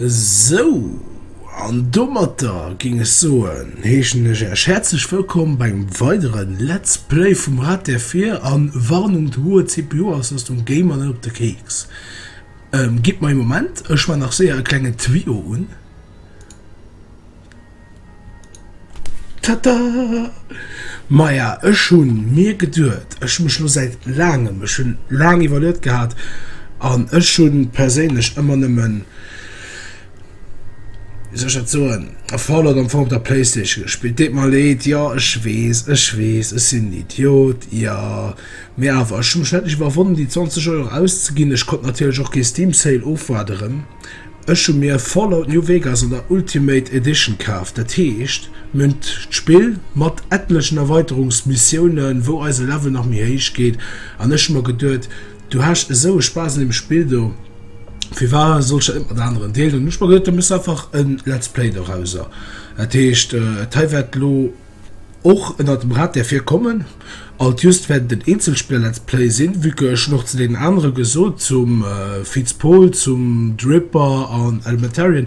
Esou, an domatter géing ech soen, heeschen ech Äech häerzlech wëllkomm bei engem weidere Let's Play vum Rad der Vir. A Warnung, d'hoer CPU-Auslëstung géing mer net op de Keeks. Gitt mer ee Moment, ech man nach séier e klengen Tuyau un. Tata! Maja, ech hu mir geduet, ech hu mech lo säit laangem, ech hunn laang iwwerluet gehat an ech hu perséinlech ëmmer nëmmen, wéi soll ech dat soen, e Fallout am Fong op der Playstation gespillt. Deet mer leed, jo ech weess, ech weess, ech sinn en Idiot, jo, mee awer ech hu mech endlech iwwerwonnen déi 20 Euro auszeginn. Ech konnt natierlech och kee Steam Sale ofwaarderen. Ech hu mir Fallout New Vegas an der Ultimate Edition kaaft, dat heescht mir hunn d'Spill mat etlechen Erweiterungsmissiounen, wou eise Level nach méi héich geet an ech hu mer geduet, du has esou e Spaass un deem Spill do, firwat soll ech dat net mat aneren deelen? Hu ech mer geduet, da méchs du einfach e Let's Play dorauser. Dat heescht, hei wäert elo och ënnert dem Rad där vir kommen. Alt just wäert et en Eenzelspiller Let's Play sinn, vue que ech schon och zu deenen anere gesot, zum Fitz Pol, zum Dripper an Elementarian,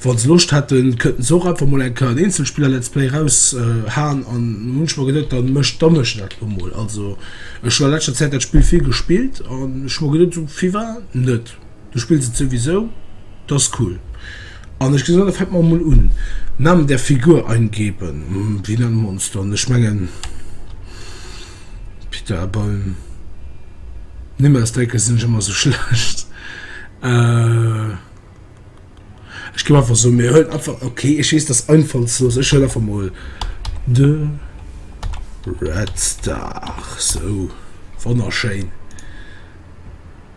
wa se Loscht hätten kënnten se och einfach mol eng Kéier en Eenzelspiller Let's Play raus haen an hunn ech mer geduet, dann mécht dann mécht dat elo mol. Also ech hunn a läschter Zäit dat Spill vill gespillt an ech hu mer geduet, sou vill war et net. Du spills et souwisou, das ist cool. An ech gesot, da fänken mer emol un. Namen der Figur eingeben, wéi nennen mer ons dann? Ech mengen Pita, beim Nimm ausdenke sinn ech ëmmer esou schlecht. Ech ginn einfach esou, mir huelen einfach, okay, ech weess, dat ass einfallslos, ech huelen einfach emol de Red Star. Sou, wonnerschéin.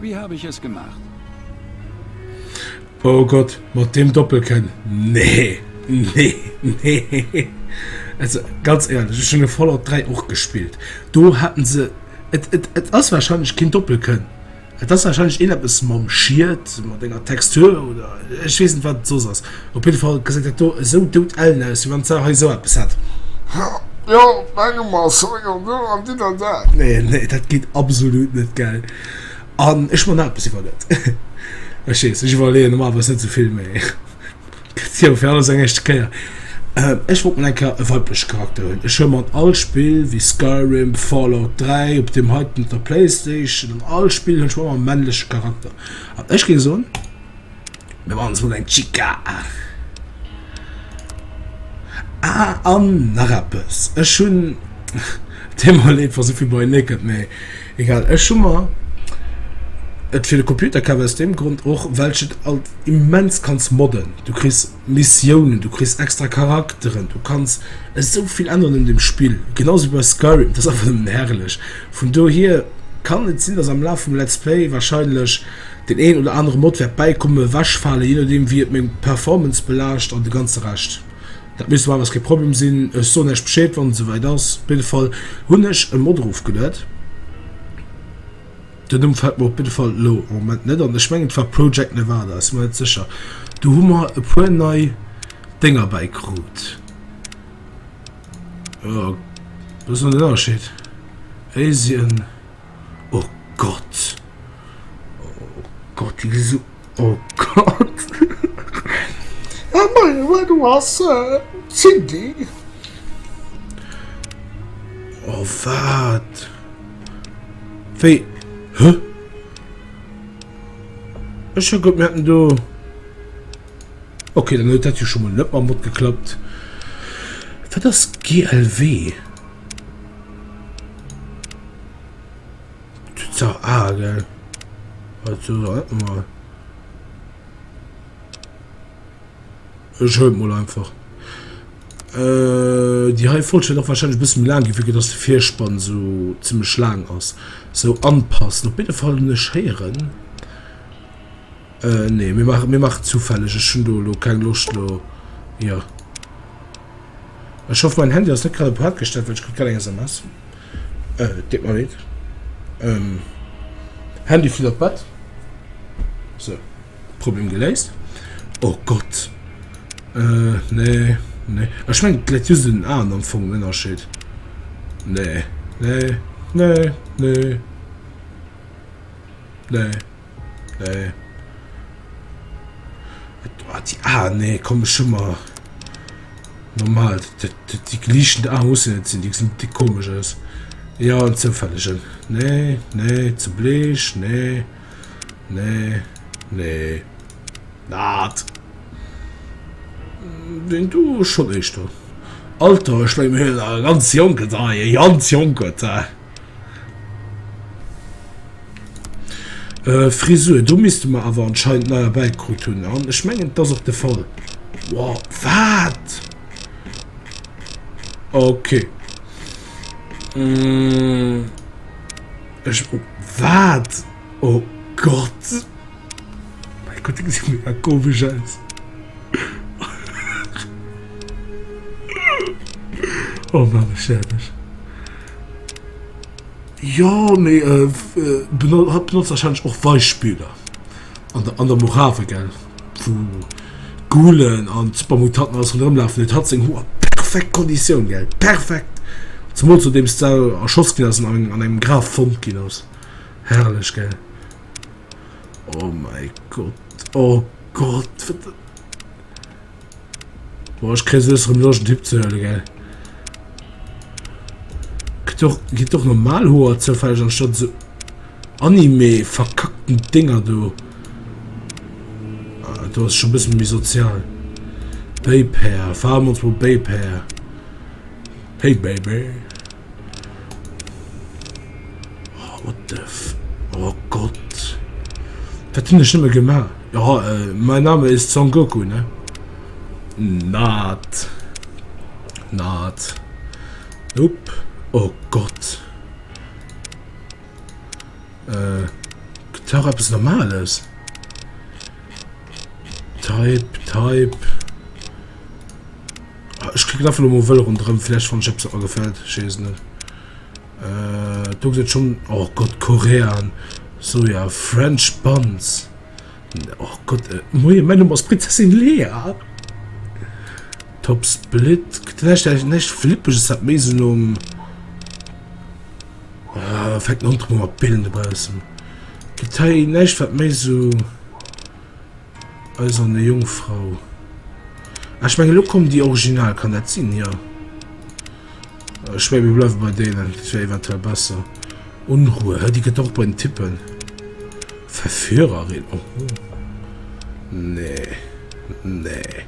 Wie hab ich es gemacht? Oh Gott, mat deem Doppelkënn, nee, nee, nee. Also ganz éierlech, ech hunn e Fallout 3 och gespillt, do haten se, et, et, et ass wahrscheinlech keen Doppelkënn, et ass wahrscheinlech een eppes mam Schied, mat enger Textur oder ech weess net wat et soss ass. Op jidde Fall geséit dat do esou dout ellen aus, wéi wann d'Sau hei esou eppes hätt. Jo, mengem ass hei jo esou an dinn an dat. Nee, nee, dat geet absolut net, gell? An ech man eppes iwwer net. Ech weess, ech iwwerleeën normalerweis net esou vill, mee gëtt jo fir alles eng éischte Kéier. Ech wollt mol eng Kéier e weiblech Charakter hunn. Ech hu mat all Spill, wéi Skyrim, Fallout 3, op deem heiten, op der Playstation, an all Spill hunn ech ëmmer e männleche Charakter. An ech géing soen. Mir maachen ons mol eng Chica. Ah an nach eppes, ech hunn Thema Léift war souvill bei Naked, mee egal. Ech hu mer et fir de Computer kaf aus deem Grond och, well ech et alt immens kann modden. Du kriss Missiounen, du kriss extra Charakteren, du kanns esou vill änneren un dem Spill, genau esou wéi bei Skyrim, et ass einfach nëmmen herrlech. Vun dohier kann et sinn, dass am Laf vum Let's Play wahrscheinlech deen een oder anere Mod wäert bäikommen, ewechfalen, jee nodeem wéi et meng Performance belaascht an de ganze Rescht. Dat misst normalerweis kee Problem sinn, ech soen iech Bescheed wann et esouwäit ass. Op jidde Fall hunn ech e Mod erofgeluet. Den Numm fällt mer op jidde Fall elo am Moment net an. Ech mengen et war Project Nevada, sinn mer net sécher. Do hu mer e puer nei Dénger bäikrut. Jo, wou ass elo den Ënnerscheed? Asien, oh Gott, oh Gott déi gi sou. Oh Gott! Ah mei, well du has Cindy! Oh wat? Wéi? Hä? Ech hu gemeet en do. Okay, dann huet dat jo schon mal net mam Mod geklappt. Wat ass GLW? Tützer A, gell? Wat so alt mal. Ich hol mal einfach. Äh, die hei Folge noch wahrscheinlich ein bisschen lang gewickelt, dass der Vierspann so ziemlich lang ist. So anpassen. Auf jeden Fall nicht hören. Äh, nee, wir machen, wir machen zufällig. Ich schon do, keine Lust, lo. Ja. Ich hoffe, mein Handy ist nicht gerade auf Hard gestellt, weil ich kriege keine SMS. Äh et geet mer leed. Ehm Handy flitt op d'Bett. Sou, Problem geléist. Oh Gott. Äh nee, nee. Ech mengen et läit just un den Aen am Fong en Ënnerscheed. Nee, nee, nee, nee, nee. Nee. Ah, die, ah, nee, komm, ich schon mal. Normal, die, die, die gleichen ah, muss ja nicht sein, die sind die komisch aus. Ja, und zufälligen. Nee, nee, zu bleich, nee. Nee, nee. Nat. Den du schon echt. Alter, ich mein, ganz jonke da, ganz jonke da. Äh, Frisur, do misste mer awer anscheinend nei erbäikrut hunn. An ech mengen, et ass och de Fall. Wow, wat? Okay. Mm, ech, wat? Oh Gott! Mei Gott, déi gesi mega komesch aus. Oh Mann, ech stäerwen. Jo, mee hatt benotzt warscheinlech och Weichspüler an der an der Morave, gell? Wou d'Ghoulen an d'Supermutanten alles ronderëm lafen. Huet hatt seng Hoer perfekt Konditioun, gell? Perfekt! Zemools nodeems d'Sau erschoss ginn ass an an engem Graf fonnt ginn ass. Herrlech gell? Oh mei Gott, oh Gott! Boah ech kréi soes rem Loscht en Typ ze huelen gell? Kritt och, kritt och normal Hoer zoufälleg anstatt sou Anime verkackten Dinger do. Ah, do ass schon e bëssen méi sozial. Babe Hair, fahr mal ins Babe Hair. Hey baby, oh what the f, oh Gott, wat hunn ech nëmme gemaach, oh mein Name ist Son Goku ne, not, not, nope, oh Gott, gëtt dach eppes Normales, type, type. Ech klicken einfach nochmal wëll rondrëm, vielleicht wann ich etwas daran gefällt, ich weiß nicht. Äh, du sieht schon, oh Gott, Korean, so ja, French Buns. Oh Gott, äh, moje, mein Name ist Prinzessin Lea. Top Split, vielleicht, vielleicht, vielleicht flippe ich es halt mehr so um. Äh, fängt noch mal Bilden draußen. Detail, nicht, was mehr so. Eiserne Jungfrau. Ah, ech menge lo kommen déi original, kann dat sinn? Jo. Ech menge mir bleiwe bei deenen, dat wär eventuell besser. Unruhe, hä, déi gëtt och bei den Typen. Verführerin, oho. Nee. Nee.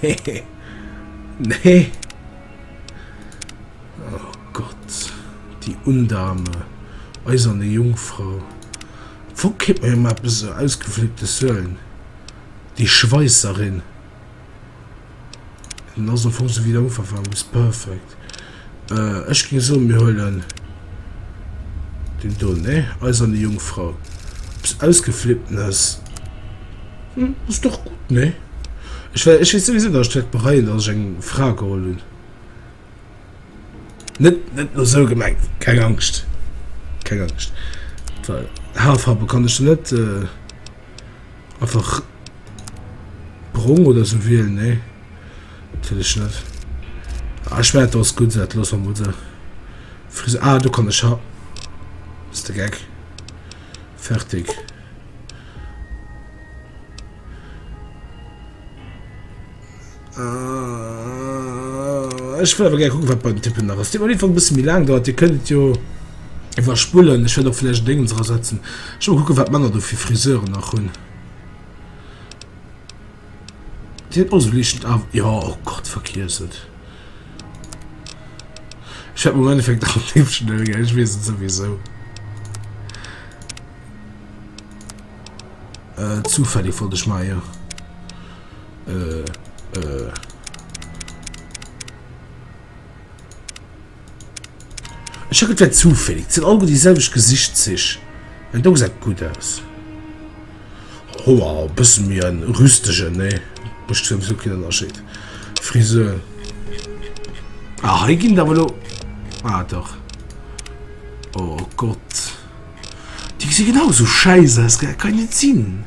Nee. Nee. Oh Gott. Die Undame. Eiserne Jungfrau. Wou kritt mer emmer eppes esou ausgeflippte Suelen? Déi Schweisserin, en ass am Fong esou wéi de Ufank war, Miss Perfect. Ech géing soen, mir huelen deen do, nee, Eiserne Jungfrau. Eppes ausgeflipptenes, hm, ass dach gutt, nee? Ech weess souwisou, datt ech wäert bereien, datt ech eng Fra geholl hunn. Net net lo sou gemengt, keng Angscht, keng Angscht. Well Haarfarwe kann ech net äh, einfach brong oder sou wielen, nee, dat will ech net. Ah, ech mein, dat ass gutt, dat loosse mer mol sou. Fris ah, do kann ech ha. Bist de geck? Fertig. Äh, ech wëll awer gär kucken, wat bei den Typen nach ass. Dir op jeden Fall e bësse méi laang dauert. Dir kënnt et jo iwwerspullen. Ech wäert och vläicht en Déngens erasetzen. Ech wëll kucken, wat d'Männer do fir Friseuren nach hunn. Dir hutt och esou liichten Af... Jo, oh Gott, vergiess et. Ech wäert mer am Endeffekt nach en Tipp schnell ginn, ech weess et souwisou. Äh, zufällig wollt ech maachen, jo. Ech hun gedacht, et wär zufällig. Et sin alleguer déi selwecht Gesichtszich. An dou gesäit gudd aus. Hoer e bëssen méi en rüstegen, nee? Mécht souwisou keen Ënnerscheed. Frisur. Ah, hei gin et awer elo. Ah, dach. Oh Gott. Déi gesi genau esou schäiss aus, gell? Kann net sinn!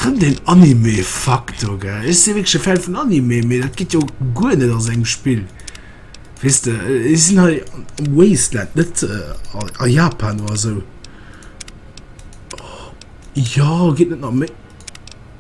Rëm den Anime-Faktor, gell? Ech si wierklech e Fan vun Anime, mee dat geet jo guer net a sou engem Spill. Weess de, ech sinn hei am Wasteland, net a Japan oder esou. Jo, geet net nach méi.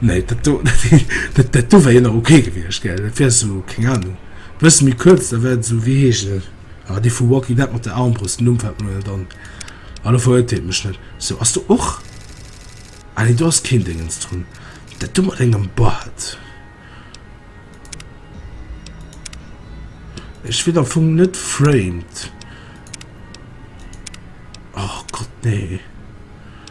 Nee, dat do, dat do wär jo nach ok gewiescht, gell? Dat wär esou, keng Anung, e bësse méi kuerz, da wär et esou, wéi heescht en, ah, dee vu Walking Dead mat der Armbrëst, den Numm fält mer net an, ah, do verurteelt mech net. Sou, ass do och, ah nee, do ass keen Déngens drun, dat do mat engem Bart. Ech wéit am Fong net Framed. Oh Gott, nee.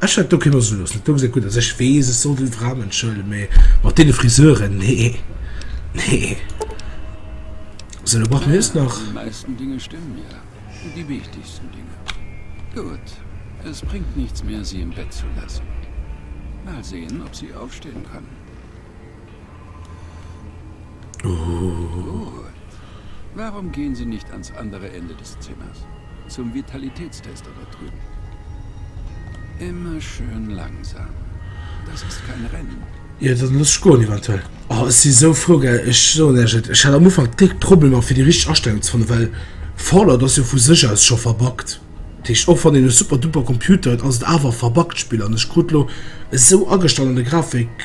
Ech hätt do keen Loscht gelooss, net dongseng gutt ass. Ech weess, ech soll déi Fraen entschëlden, mee mat deene Friseuren, nee, nee. Sou, elo brauche mir just nach. Déi meisten Dinge stimmen ja, déi wichtigsten Dinge. Gutt, es bringt nichts mehr, sie im Bett zu lassen. Mal sehen, ob sie aufstehen kann. Gutt, warum gehen sie nicht ans andere Ende des Zimmers, zum Vitalitätstest? Mat Ruh. Immer schön langsam. Das ist kein Rennen. Jo dann looss ech goen eventuell. Oh ech si sou frou gell, ech soen iech et, ech hat am Ufank déck Problemer fir déi richteg Astellung ze fannen, well Fallout ass jo vu sech aus scho verbuggt, dat heescht och wann een e super duper Computer huet ass et awer e verbuggt Spill an ech krut lo esou agestallene Grafik,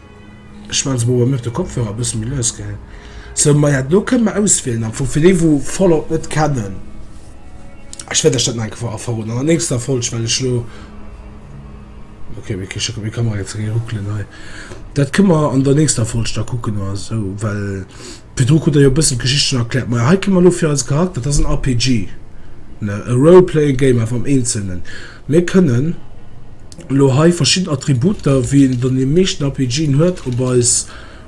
Schmatzen mol mech de Kopfhörer bessen méi lues gell sou maja do kënnen mer auswielen am Fong fir déi wou Fallout net kennen. Ech wäert iech dat nach eng Kéier verroden an der nächster Folg well ech lo okay wéi kech meng Kamera jetzt ree ruckelen hei dat kënnen mer an der nächster Folg da kucken oder sou well. Virdru krut Der jo e bëssen d'Geschicht schonn erkläert. Majo, hei kréie mer elo fir eise Charakter, dat ass en RPG, ne, e Role-playing game, awer am Eenzelnen. Mir kënnen elo hei verschidden Attributer, wéi een et an deene meeschten RPGen huet, op eis,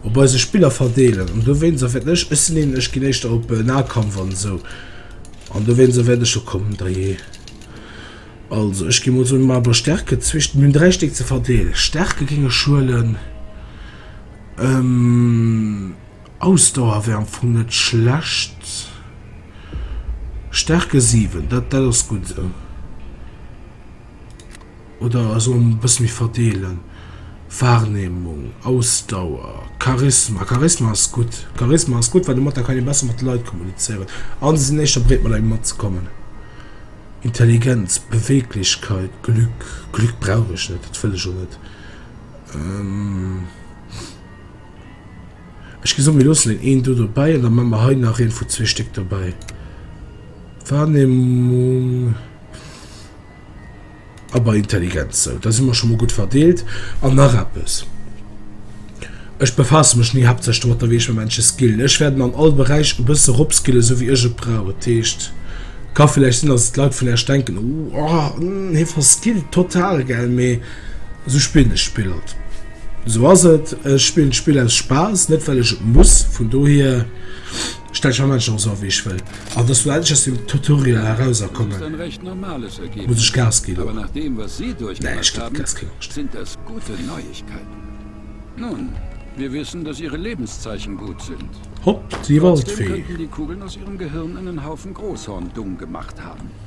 op eise Spiller verdeelen. An dowéinst erwäerten ech, ech sinn een, ech ginn éischter op Nahkampf an esou, an dowéinst erwäert ech, jo komm, da je. Also, ech gi mol soen, mir maache bei Stärke zwécht, mir hunn dräi Stéck ze verdeelen. Stärke géing ech huelen. Ausdauer wär am Fong net schlecht. Stärke 7, dat, dat ass gutt esou. Oder also e bësse méi verdeelen. Wahrnehmung, Ausdauer, Charisma. Charisma ass gutt. Charisma ass gutt, well domat da kann ee besser mat de Leit kommunizéieren. An se sinn éischter bereet, mat engem matzekommen. Intelligenz, Beweeglechkeit, Glück. Glück brauch ech net, dat wëll ech och net. Ech gi so, mir loossen een een do dobäi an da man mer hei nach een vu zwee Stéck dobäi. Wahrnehmung a bei Intelligenz. So, da si mer schon mal gut verdeelt. An nach eppes. Ech befasse mech ni haaptsächlech domat, da wéi ech mer Menschen skillen. Ech wäert mer an all Beräich e bësse ropskillen, esou wéi ech et brauch. Dat heescht, ka villäicht sinn, dass d'Leit vun Äerch denken, Ohh, hee verskillt total, gell? Mee esou spillen ech d'Spill halt. Esou ass et, ech spillen d'Spill aus Spaass, net well ech et muss. Vun dohier stellen ech mer Menschen och esou a wéi ech wëll. An datt elo endlech aus dem Tutorial eraus a kommen, muss ech Gas ginn och. Nee, ech ginn Gas, keng Angscht. Hopp, déi war alt wéi.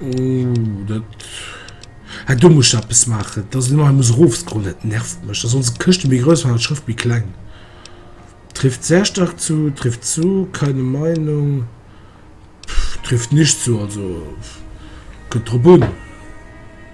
Oh, dat... Hey, do muss ich etwas machen. Dass ich immer muss raufscrollen, das nervt mich. Dass unsere Kiste mehr groß war, die Schrift mehr klein. Trifft sehr stark zu, trifft zu, keine Meinung. Pff, trifft nicht zu, also... Könnt drauf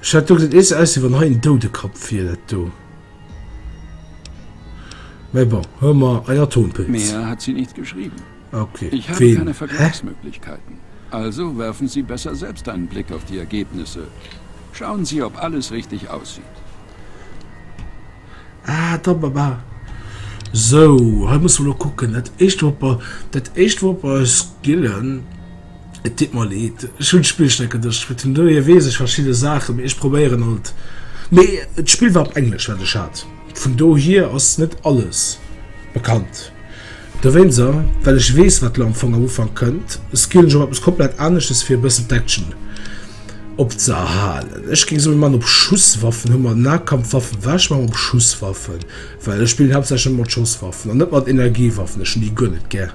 Ech hat do gesinn, et gesäit aus wéi wann hei en Doudekapp wier, dat do. Mä bon, hu mer en Atompilz. Mehr hat sie nicht geschrieben. Ok, ween? Hä? Ich habe keine Vergleichsmöglichkeiten. Also werfen Sie besser selbst einen Blick auf die Ergebnisse. Schauen Sie, ob alles richtig aussieht. Ah, da, ba, ba. Sou, hei musse mer elo kucken. Dat éischt wor bei, dat éischt wor bei Skillen. Et deet mer leed, ech hunn d'Spillstreck en Dësch kritt, vun dohier weess ech verschidde Saachen, mee ech probéieren alt. Mee d'Spill war op Englesch, wat ech hat, vun dohier ass net alles bekannt. Dowéinser, well ech weess, wat elo am Fong am Ufank kënnt, skillen ech och eppes komplett aneschtes, fir e bëssen d'Action opzëerhalen. Ech géing soen, mann op Schusswaffen, hu mer Nahkampfwaffen, war ech mann op Schusswaffen, well ech spillen haaptsächlech mat Schosswaffen an net mat Energiewaffen, ech hunn déi guer net gär.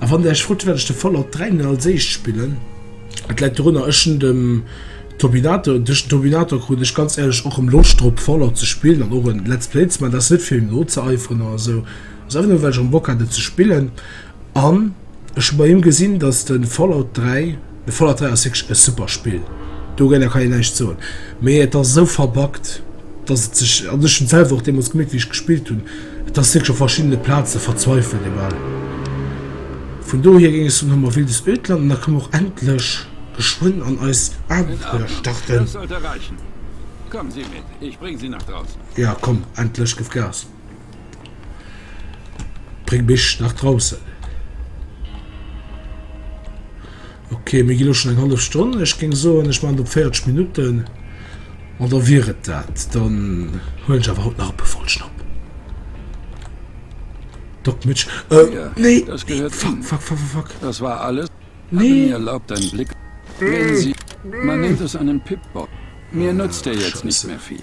A wann Dir Iech frot, wäert ech de Fallout 3 net als éischt spillen. Et läit dorunner, ech hunn dem Topinator, duerch den Topinator krut ech ganz éierlech och erëm Loscht drop Fallout ze spillen an och en Let's Play ze man. Dat ass net fir him nozeeiferen oder esou, ass einfach nëmme well ech erëm Bock hat et ze spillen. An ech hu bei him gesinn, datt de Fallout 3, De Fallout 3 ass wierklech e super Spill, dogéinter kann een näischt soen, mee et ass esou verbuggt, dass et sech, an ech hunn et selwer och deemools gemierkt, wéi ech gespillt hunn, et ass wierklech op verschiddene Plaze verzweifelt. Egal, vun dohier géing ech soen, hu mer Wildes Ödland an da ka mer och endlech geschwënn an eist Abenteuer starten. Jo, komm, endlech gëff Gas! Bréng mech nach draussen. Ok, mir gi lo schon eng half Stonn. Ech géng soen, ech man do 40 Minutten an da wier et dat. Dann huelen ech awer haut nach e puer Folgen op. Doc Mitch, euh, nee, nee, fuck, fuck, fuck, fuck, fuck. Das war alles? Nee. Erlaubt einen Blick. Wenn Sie, man nennt es einen Pip-Bock. Mir nutzt der jetzt nicht mehr viel.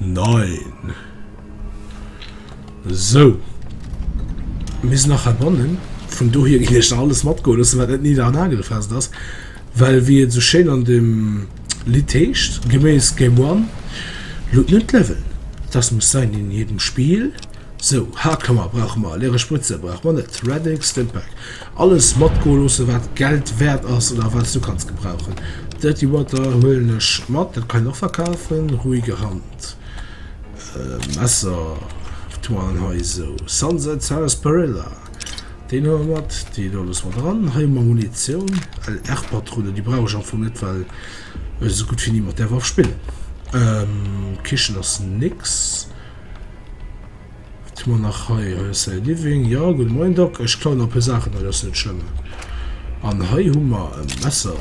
Nein. Sou. Mir sinn nach heibannen. Vun dohier ginn ech nach alles matgoe loossen, wat net niedernagelfest ass. Well wéi et sou schéin an dem Lidd heescht, geméiss Game One, loot nun d'Level, das muss sein in jedem Spiel. Sou, Hardcover brauche mer, leere Spritze brauche mer net, Radic, Stimpack, Alles matgoe loossen wat Geld wäert ass oder wat s du kanns gebrauchen. Dirty Water huelen ech mat, dat kann een och verkafen. Ruhige Hand, Messer, tu an hei esou Sunset Sarsaparilla, deen hu mer mat, dee do loosse mer dran. Hei hu mer Munitioun, LR Patronen, déi brauch ech am Fong net, well ech esou gutt wéi ni mat där Waff spillen. Kichen ass nix. Wat hu mer nach hei? Hei ass säi Living. Jo, gudde Moien, Doc. Ech klauen nach puer Saachen hei, dat ass net schlëmm. An hei hu mer e Messer.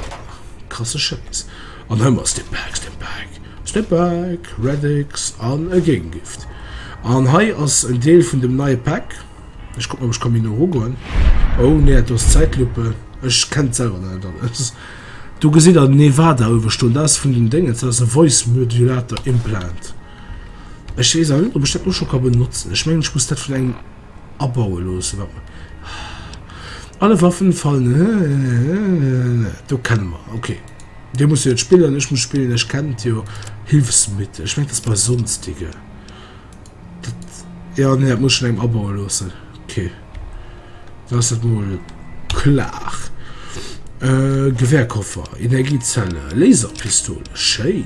Krasse Schäiss. An hei hu mer Stimpack, Stimpack, Stimpack, Radix an e Géigengift. An hei ass en Deel vun dem neie Pack. Ech kucken, ob ech ka méi no erugoen. Oh, nee, do ass d'Zäitlupe. Ech kennen d'selwer nach net alles. Do gesitt Der den Nevada uewe stoen. Dat ass vun den Déngens, dat ass e Voice-Modulator-Implant. Ech wees awer net op ech dat lo scho ka benotzen, ech mengen ech muss dat vun engem abaue loossen wat mer Alle Waffen fallen do kennen mer ok Dir musst jo et spillen, ech muss spillen, ech kennen et jo Hilfsmittel, ech mengen dat ass bei sonstige dat jo nee dat muss ech vun engem abaue loossen ok da ass dat mol klar Gewehrkoffer, Energiezelle, Laserpistole, schéin.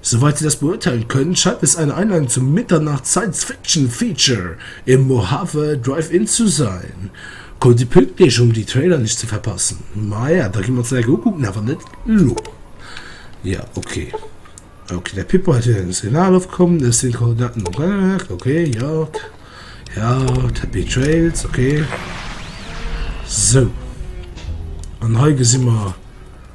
Soweit sie das beurteilen können, scheint es eine Einladung zum Mitternacht-Science-Fiction-Feature im Mojave Drive-In zu sein. Kommt sie pünktlich, um die Trailer nicht zu verpassen. Maja, da gehen wir uns dat gleich ukucken, awer net lo. Ja, okay. Okay, der Pippo hat wieder ein Signal aufgekommen. Das sind Koordinaten am Brennwerk. Okay, ja. Ja, Happy Trails, okay. So. Und hier sehen wir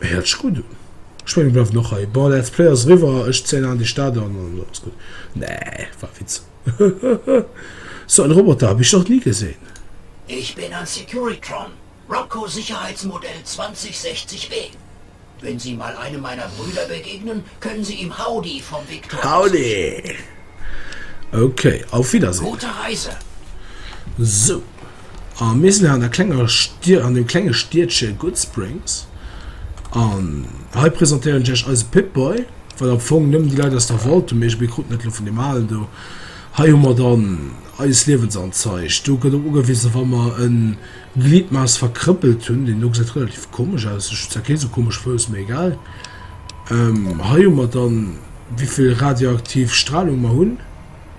Héiert sech gudd un. Ech mengen bleiwen och hei. Bon let's play ass riwwer, ech zéien an déi Stad an an alles gudd. Nee war Witz. Sou en Roboter hab ech nach ni gesinn. Ich bin ein Securitron, Rocco Sicherheitsmodell 2060 B. Wenn Sie mal einem meiner Brüder begegnen, können Sie ihm Howdy vom Viktor ausrichten. Howdy! Okay, auf Wiedersehen. Gute Reise! Sou. A mir sinn an der klenger Stied, an dem klenge Stiedche Goodsprings. An hei presentéieren ech iech eise Pip-Boy, wat am Fong nëmmen déi Leit aus der Waltung mécht, mir kruten dat elo vun deem Alen do. Hei hu mer dann eist Liewensanzeich. Do gëtt op ugewisen, wa mer e Gliedmass verkrëppelt hunn. Deen do gesäit relativ komesch aus, ech hunn zwar kee esou komesche Fouss, mee egal. Hei hu mer dann, wéi vill radioaktiv Stralung mer hunn.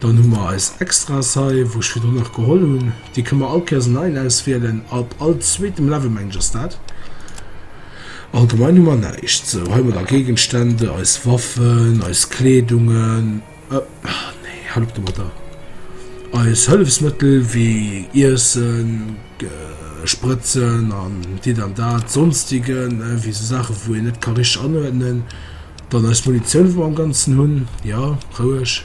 Dann hu mer eis Extras hei, wou ech virdrun nach geholl hunn. Déi kënne mer all Kéiers en neien auswielen. Ab all zweetem Level, mengen ech, ass dat. Allgemein hu mer näischt. Sou, hei hu mer da Géigenstände, eis Waffen, eis Kleedungen, nee, hal op domatter, eis Hëllefsmëttel wéi Iessen, Sprëtzen an dit an dat, Sonstigen, wéi esou Saache wou een net ka richteg anuerdnen. Dann eis Munitioun, déi mer am Ganzen hunn, jo, roueg.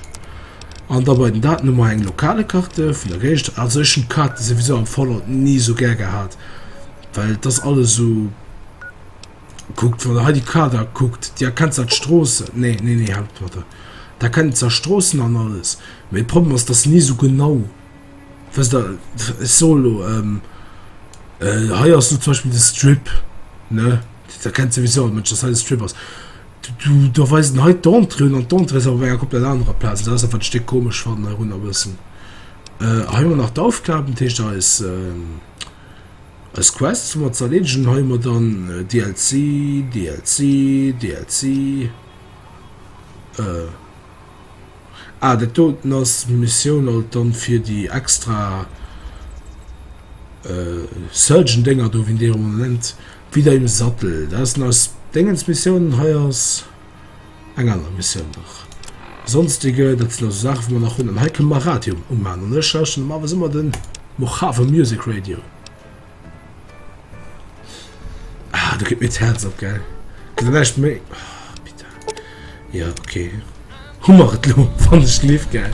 An da bei den Daten hu mer eng lokale Karte vun der Géigend. Also ech hunn d'Karte souwisou am Fallout ni esou gär gehat, well et ass alles esou, kuckt, wann Der hei déi Karte kuckt, Dir erkennt zwar d'Stroossen, nee, nee, nee, haalt et mat der, Der erkennt zwar d'Stroossen an alles, mee de Problem ass, dass se ni esou genau. Wësst Der, ech soen elo, ähm, äh, hei ass elo zum Beispill de Strip, ne? Dat erkennt souwisou all Mënsch, dass hei de Strip ass. Du, du, da weisen hei d'Entrée un an d'Entrée ass awer bei enger komplett anerer Plaz. Dat ass einfach de Stéck komesch fannen heirunner e bëssen. Äh, hei hu mer nach d'Aufgaben, dat heescht eis, ähm, eis Quests hu mer ze erleedegen. Hei hu mer dann äh, DLC, DLC, DLC, äh, Ah, dat doten ass d'Missioun alt dann fir déi extra Surgeon Dénger do wéi déi emol nennt. Wieder im Sattel, dat ass den aus Déngens Missioun an hei ass eng aner Missioun nach. Sonstige, dat sinn also Saachen wou mer nach hunn an hei kënne mer Radio umaan an ech lauschteren normalerweis ëmmer den Mojave Music Radio. Ah, du gib mir d'Herz op gell nächt méi oh, Ja okay Hummer et lo wann ech lief gell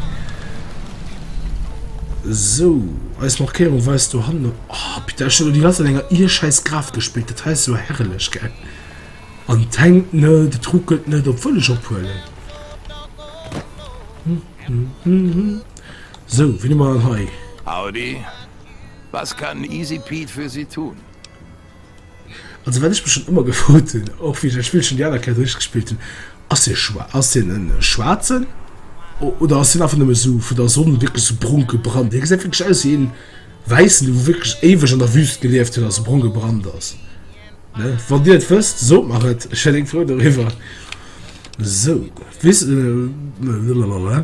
So Eis Markéierung weist du han op oh, Peter schon die ganze enger ihr scheiß Graf gespielt dat heißt so herrlech gell An tankt net de truckelt net op völleg ophuelen hm, hm, hm, hm. So wie man hei Audi Was kann EasyPete für Sie tun? Also wat ech mech schon ëmmer gefrot hunn, och wéi ech dat Spillchen déi aner Kéier duerchgespillt hunn, Ass hie schwa ass hien en Schwaarzen oder ass hien einfach nëmme sou vun der Sonn wierklech sou brong gebrannt? Hie gesäit wierklech aus wéi een Wäissen, dee wou wierklech éiweg an der Wüst gelieft huet a sou brong gebrannt ass, ne? Wann Dir et wësst, sot mer et, ech wär déng frou doriwwer. Sou, wis, blablabla.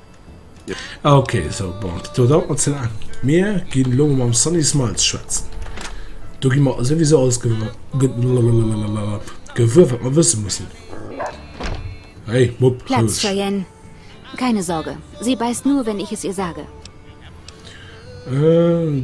Ah ok, sou bon, do dauert mer ze laang. Mir ginn elo mam Sunny Smiles schwätzen. Do gi mer souwisou alles gewuer, wat mer wësse mussen. Hey, Mupp, roueg. Platz, Cheyenne. Keine Sorge, sie beißt nur, wenn ich es ihr sage. Euh,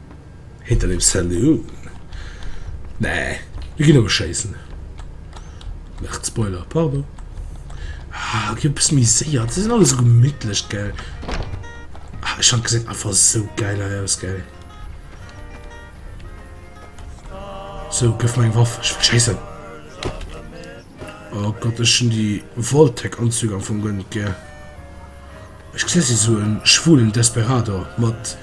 Hinter dem Saloon? Nee, mir ginn elo schéissen. Nacht Spoiler, pardon. Ah, ginn e bëssen méi séier. Déi sinn all esou gemittlech, gell? Ah, ech han gesäit einfach esou gäil hei aus, gell? So, gëff mer eng Waff. Ech wëll schéissen. Oh Gott, ech hun déi Vault-Tec-Anzüg am Fong guer net gär. Ech gesi si sou en schwulen Desperado mat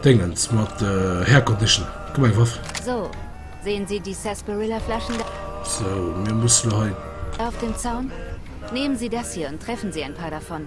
Déngens, mat Hair Condition. Komm eng Waff. So, sehen Sie die Sarsaparilla-Flaschen da? So, mir mussen lo hei. Auf dem Zaun? Nehmen Sie das hier und treffen Sie ein paar davon.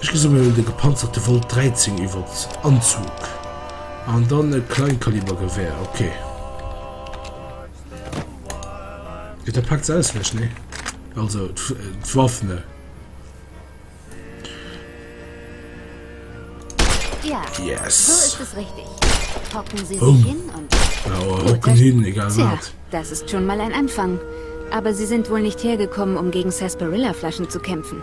Ech gesi mol de gepanzerte Volt 13 iwwert Anzug an dann e Kleinkalibergewär, ok. Jo da packt se aus lech, nee? Also d'Waff, ne? Yes! Boom! Awer hocken hin, egal wat. Das ist schon mal ein Anfang. Aber sie sind wohl nicht hergekommen, um gegen Sarsaparilla-Flaschen zu kämpfen.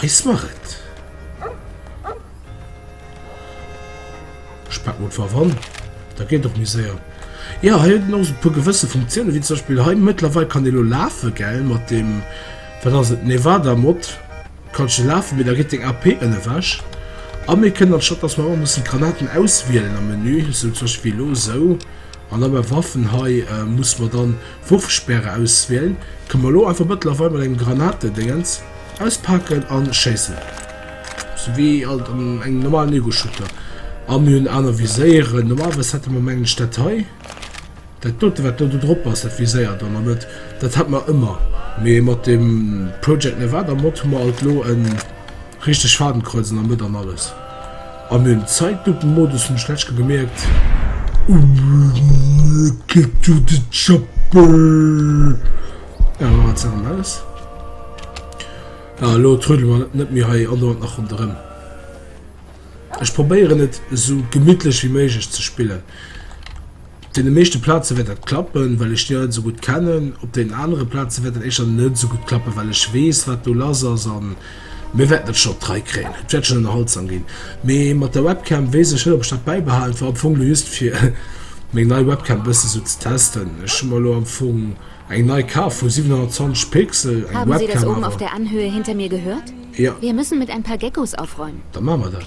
Weis mer et. Ech packen einfach ran. Da geet och méi séier. Ja, hei huet en och e puer gewësse Funktiounen, wéi zum Beispiel hei mëttlerweil kann ee lo lafen, gell, mat dem, wat ass et, Nevada-Mod kanns de lafen, mee da geet deng AP ënnewech. A mir kënnen, anstatt dass mer ëmmer mussen d'Granaten auswielen am Menü, sou zum Beispiel wéi elo, sou, an da bei Waffen hei muss mer dann, Wurfspäre auswielen, kënne mer elo einfach mëttlerweil mat engem Granatedéngens auspaken a schéissen, sou wéi alt an engem normalen Ego-Shooter. A mir hunn aner Viséieren, normalerweis hätte mer mengen ech dat hei, dat dote wat do do drop ass, dat viséiert dann an et, dat hat mer ëmmer, mee mat dem Project Nevada Mod hu mer alt elo en. Richteg Fadenkreuzen am Mëtt an alles an den Zeitlupenmodus hun ech letzt scho gemierkt. Get to the chopper! Ja elo ass dat erëm alles. Ja elo trödele mer net méi hei andauernd nach ronderëm. Ech probéieren et esou gemittlech wéi méiglech ze spillen. Op deene meeschte Plaze wäert dat klappen, well ech déi Leit esou gutt kennen. Op deenen anere Plaze wäert dat éischter net esou gutt klappen, well ech weess, wat do lass ass. A mir wäerten dat schonn op d'Rei kréien. Et wäert schonn ënnerhaltsam ginn. Mee mat der Webcam weess ech net, ob ech dat bäibehalen. Et war am Fong elo just, fir meng nei Webcam e bësse sou ze testen. Ech hu mer elo am Fong eng nei kaf vu 720 Pixel, eng Webcam awer. Jo. Da maache mer dat.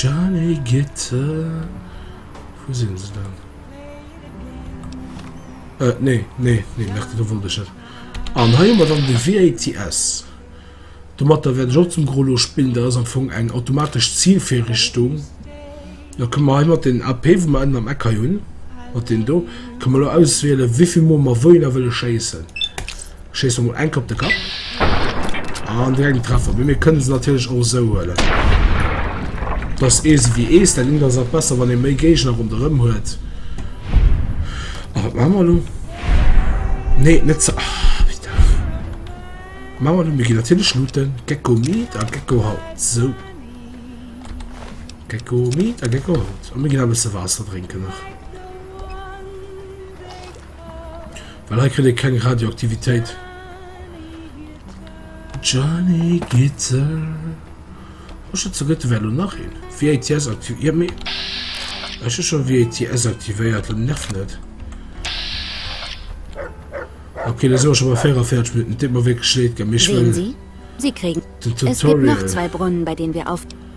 Jany Gitte, wou sinn se dann? Äh, nee, nee, nee, Merde, do wollt ech net. An hei hu mer dann de VATS. Domatter wäert ech och zum Gros lo spillen. Dat ass am Fong eng automatesch Zilvirrichtung. Da kënne mer hei mat den AP, wou mer ënnen am Eck hei hunn, mat deem do, kënne mer lo auswielen, wéi vill Mol mer wouhinner wëlle schéissen. Schéiss mol eng op de Kapp. An direkt en Treffer. Mee mir kënne se natierlech och esou huelen. Dass Eese wéi Ees, dat Ding ass nach besser, wann ee méi Géigner ronderëm huet. A wat maache mer elo? Nee, net ze. Ah, wéi dach. Maache mer elo, mir ginn natierlech looten. Gecko Meat a Gecko Haut. Sou. Gecko Meat a Gecko Haut. A mir ginn e bësse Waasser drénken nach. Well hei kritt ee keng Radioaktivitéit. Gianni Gitzel. Oh, ech hat ze gëtt, wär lo nach een. VATS aktiv... Ja, mee... Ech hu scho VATS aktivéiert, lo nerv net. Okay, da si mer scho bei 44 Minutten. Et deet mer wierklech leed, gell, mee ech wëll... Den Tutorial...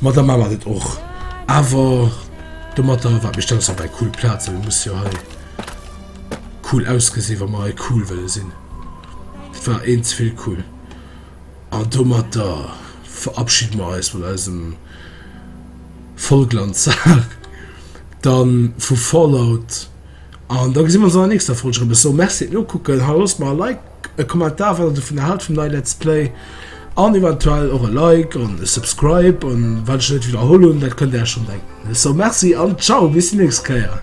Ma da maache mer dat och. Awer domatter, wat mir stellen ons dobäi cool Plazen, et muss jo hei cool ausgesinn, wa mer hei cool wëlle sinn. Dat war eent ze vill cool. An domatter verabschide mer eis vun eisem Vollglanztag dann vu Fallout. An da gesi mer ons an der nächster Folg erëm. Ech soe Merci fir d'Nokucken. Haloss mer e Like, e Kommentar wat der dovunner haalt vum neie Let's Play an eventuell och e Like an e Subscribe. An wat ech net widderholl hunn, dat kënnt Där iech schonn denken. Ech soe Merci an Ciao bis déi nächst Kéier.